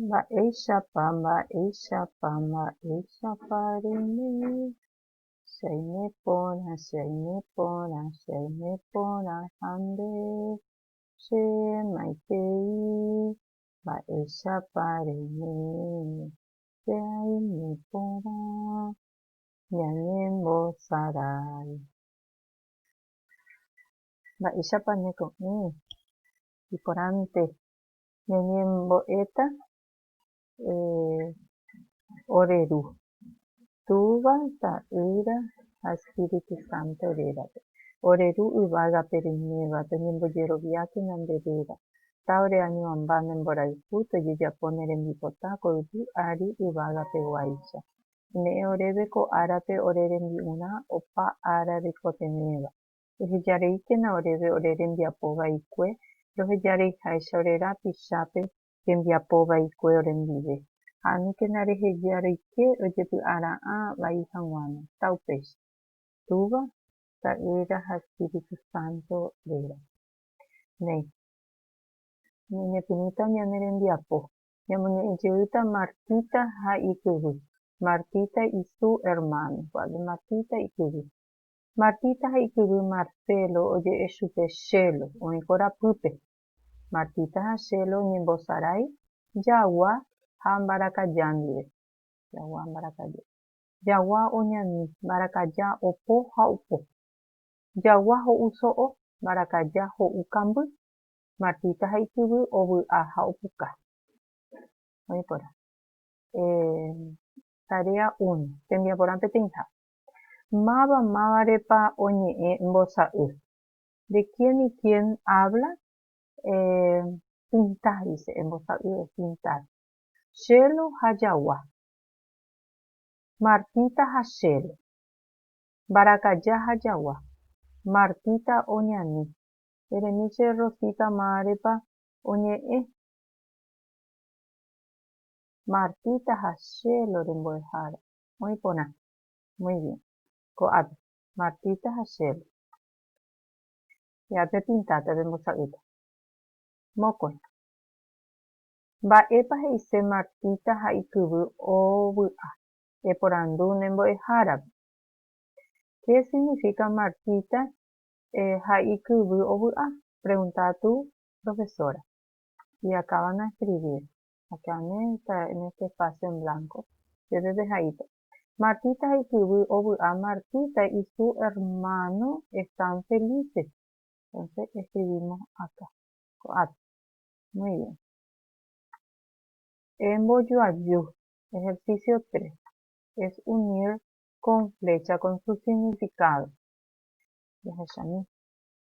Mba'éichapa, mba'éichapa, mba'éichapa reime, che aime porã, che aime porã, che aime porã ha nde che maitei, mba'éichapa reime, che aime porã, ñañembosarái. Mba'éichapa ñeko'ẽ iporãnte ñañembo'éta ore Ru Túva, Ta'ýra ha Espíritu Santo rérape? Ore Ru yvágape reiméva, peñembojeroviáke ñande réra. Tá'ore añoamba ne mborayhu tojejapo ne rembipota ko yvy ári yvágapeguáicha. Ome'ẽ oréve ko árape ore rembi'urã opa ára reikotevẽva. ehejareíkena oréve ore rembiapo vaikue, rohejareiháicha ore rapichápe rembiapo vaikue orendive, ha aníkena rehejareike ojepy'ara'ã vai haguãno, ta upéicha. Túva, Ta'ýra ha Espíritu Santo réra. Néi. Ñañepyrũta ñane rembiapo. Ñamoñe'ẽ jeýta Martita ha ikyvy. Martita isu hermano. Vale, Martita ikyvy. Martita ha ikyvy Marcelo oje'e chupe Chelo oĩ korapýpe. Martita ha Chelo oñembosarái jagua ha mbarakaja ndive. Jagua ha mbarakaja. Jagua oñani, mbarakaja opo ha opo. Jagua ho'u so'o, mbarakaja ho'u kamby. Martita ha ikyvy ovy'a ha opuka. Oĩ porã. Eh, tarea uno. Tembiaporã peteĩha. Máva mávarepa oñe'ẽ mbosa'y. De quién y quién habla? Eh, pintar dice, embosa'y es pintar. Chélo ha jagua. Martita ha Chélo. Mbarakaja ha jagua. Martita oñani. Eremi che Rosita mávarepa oñe'ẽ. Martita ha Chélo rembo'ehára. Muy porã. Muy bien. Ko'ápe. Martita ha Shelly. Ya pepinta, pepembosa'ýta. Mokõi. Mba'épa he'ise Martita ha ikyvy ovy'a? Eporandu ne mbo'ehárape. Qué significa Martita ha ikyvy ovy'a? Pregunta tu profesora. Y acában a escribir. Akeaméta en este espacio en blanco. Peve pehaíta. Martita ha ikyvy ovy'a Martita y su hermano están felices. Entonces escribimos acá. Ko'ápe. Muy bien. Embojoaju. Ejercicio 3. Es unir con flecha con su significado. Jahechamína.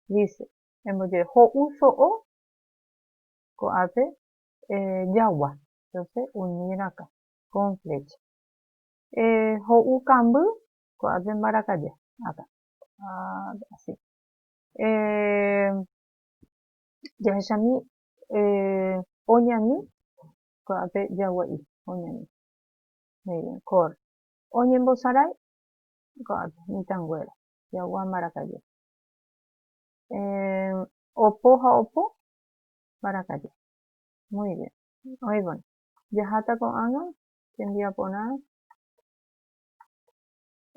Dice, embojoaju. Ho'u so'o. Ko'ápe eh, jagua, entonces uni rakã, con flecha. Eh, ho'u kamby, ko'ápe mbarakaja, acá, ah, así. Eh, jahechami eh, oñani, ko'ápe jagua'i, oñani. Muy bien, corre. Oñembosarái, ko'ápe, mitãnguéra, jagua mbarakaja. Eh, opo ha opo, mbarakaja. Muy bien. Oĩvoi. Jaháta ko'ág̃a tembiaporã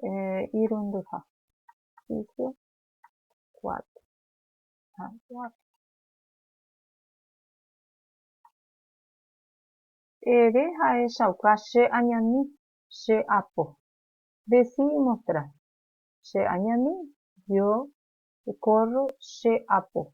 eh, irundyha. Piso cuatro. Ha, cuatro. Ere ahechauka che añami, che apo. Decí y mostrá. Che añami, yo corro, che apo.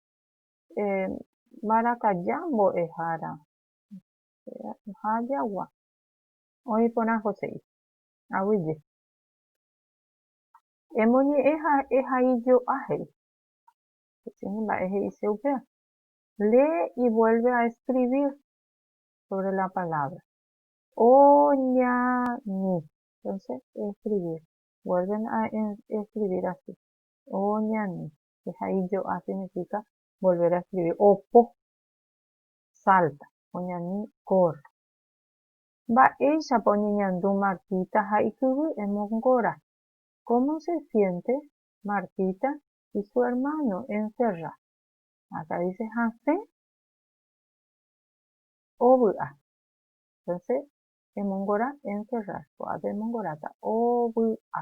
eh, mbarakaja mbo'ehára ha jagua. Oĩ porã Joséi. Aguyje. Emoñe'ẽ ha ehaijo'a he'i. Peteĩ mba'e he'ise upéva. Lee y vuelve a escribir sobre la palabra. Oñani. Entonces, escribir. Vuelven a escribir así. Oñani. Heja ijo'a significa volver a escribir. Opo, salta, oñani, corre. Mba'éichapa oñeñandu Martita ha ikyvy emongora? Cómo se siente Martita y su hermano encerra? Acá dice hasẽ ovy'a. Entonces emongora encerrar. Ko'ápe emongoráta ovy'a.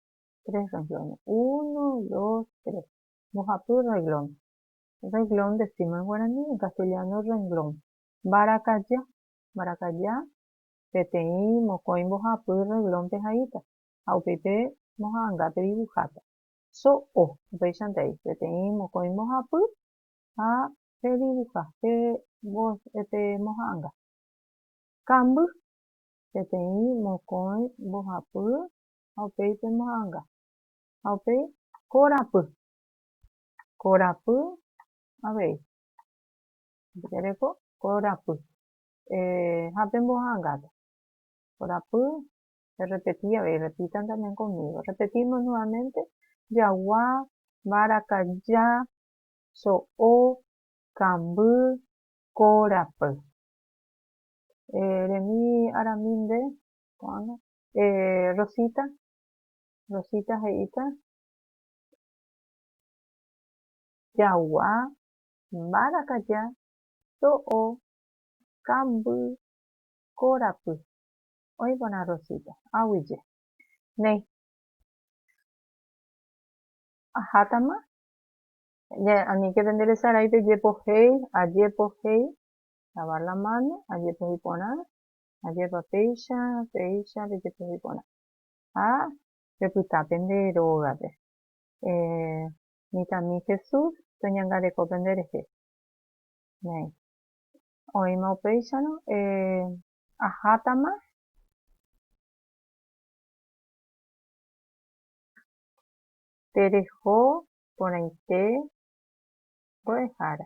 tres rrenglónes, uno, dos, tres. Mbohapy rreglón. Rreglón decímos en guarani, en castellano rrenglón. Mbarakaja, mbarakaja peteĩ mokõi mbohapy rreglónpe haíta ha upéipe moha'ãngápe divuháta. So'o, upéichante ai, peteĩ mokõi mbohapy ha pedivuha, pemboha'ãnga. Kamby, peteĩ mokõi mbohapy ha upéi pe mo'ãnga, ha upéi korapy, korapy avei, jaguereko korapy, ha pe mbo'ãngápe, korapy, errepeti avei, repitan también conmigo, repetimos nuevamente, jagua, mbarakaja, so'o, kamby, korapy. Eremi aramínte, ko'ág̃a, Eh, Rosita, Rosita he'íta, jagua, mbarakaja, so'o, kamby, korapy. Oĩ porã Rosita, aguyje. Néi, ahátama, aníke pende resaráipe jepohéi, ajepohéi, lavar la mano, ajepohéi porã, Ajépa péicha, péicha pejepohy porã. Ha pepyta pende rógape. Eh, mitãmi Jesús toñangareko pende rehe. Néi. Oĩma upéicharõ, eh, ahátama. Tereho porãite mbo'ehára.